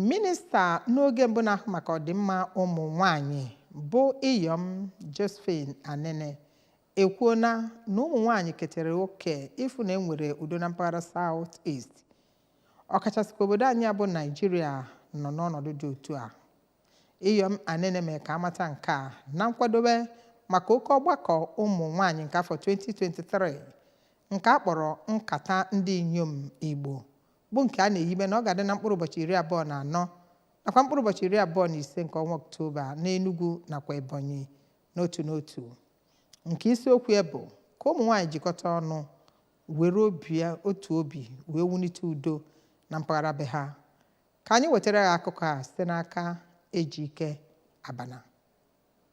minista n'oge mbụ na-ahụ maka ọdịmma ụmụ nwanyị bụ iyom josephine anenih ekwuona na ụmụ nwanyị ketere oke ịfụ na enwere udo na mpaghara south east ọkachasị ka obodo anyị bụ naijiria nọ n'ọnọdụ dị otu a iyom anenih mere ka amata nke a na nkwadobe maka oke ọgbakọ ụmụ nwanyị nke afọ 2023 nke a kpọrọ nkata ndị inyom igbo bụ nke a na-ehibe na ọ ga-adị na mkpụrụ ụbọchị iri abụọ na anọ nakwa mkpụrụ ụbọchị iri abụọ na ise nke ọnwa Ọktoba n'Enugu nakwa Ebonyi n'otu n'otu nke isiokwu ya bụ ka ụmụ nwaanyị jikọta ọnụ were otu obi wee wulite udo na mpaghara be ha ka anyị wetara ya akụkọ a site n'aka Ejike Abana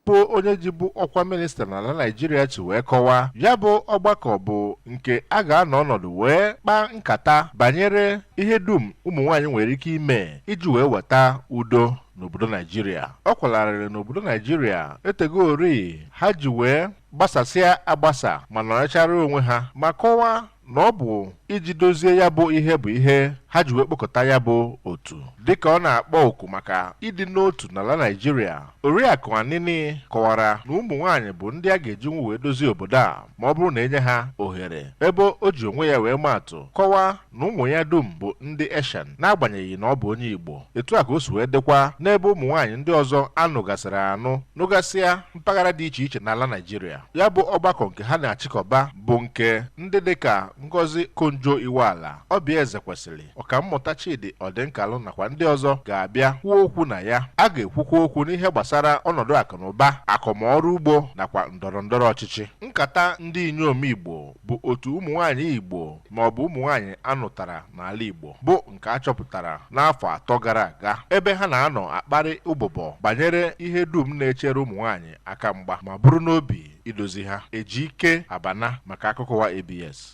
bụ onye jibu ọkwa minista n'ala Naịjirịa si wee kọwaa ya bụ ọgbakọ bụ nke a ga-anọ ọnọdụ wee kpaa nkata banyere ihe dum ụmụ nwaanyị nwere ike ime iji wee weta udo n'obodo Naịjirịa ọ kwara arịrị na obodo Naịjirịa etegori ha ji wee gbasasịa agbasa ma nọrọchara onwe ha ma kọwaa na ọ bụ iji dozie ya bụ ihe bụ ihe ha ji wee kpọkọta ya bụ otu dịka ọ na-akpọ oku maka ịdị n'otu n'ala Naịjirịa Oriakụ Anenih kọwara na ụmụ nwaanyị bụ ndị a ga-ejinwu wee dozie obodo a ma ọ bụrụ na e nye ha ohere ebe o ji onwe ya wee maa atụ kọwaa na ụmụ ya dum bụ ndị Eshan n'agbanyeghị na ọ bụ onye Igbo etu a ka o si wee dịkwa n'ebe ụmụ nwaanyị ndị ọzọ a nụgasịrị anụ nụgasịa mpaghara dị iche iche n'ala Naịjirịa ya bụ ọgbakọ nke ha na-achịkọba bụ nke ndị dịka Ngozi Okonjo-Iweala, Oby Ezekwesili, Ọkammụta Chidi Ọdịnkalụ nakwa ndị ọzọ ga-abịa kwuo okwu na ya. A ga-ekwukwa okwu n'ihe gbasara ọnọdụ akụnụba, akọm ọrụ ugbo nakwa ndọrọ ndọrọ ọchịchị. Nkata ndị inyom Igbo bụ otu ụmụ nwaanyị Igbo ma ọ bụ ụmụ nwaanyị a nụtara n'ala Igbo bụ nke a chọpụtara n'afọ atọ gara aga ebe ha na-anọ akparị ụbụbọ banyere ihe dum na-echere ụmụ nwaanyị aka mgba ma bụrụ n'obi idozi ha. Ejike Abana maka akụkọ ụwa ABS.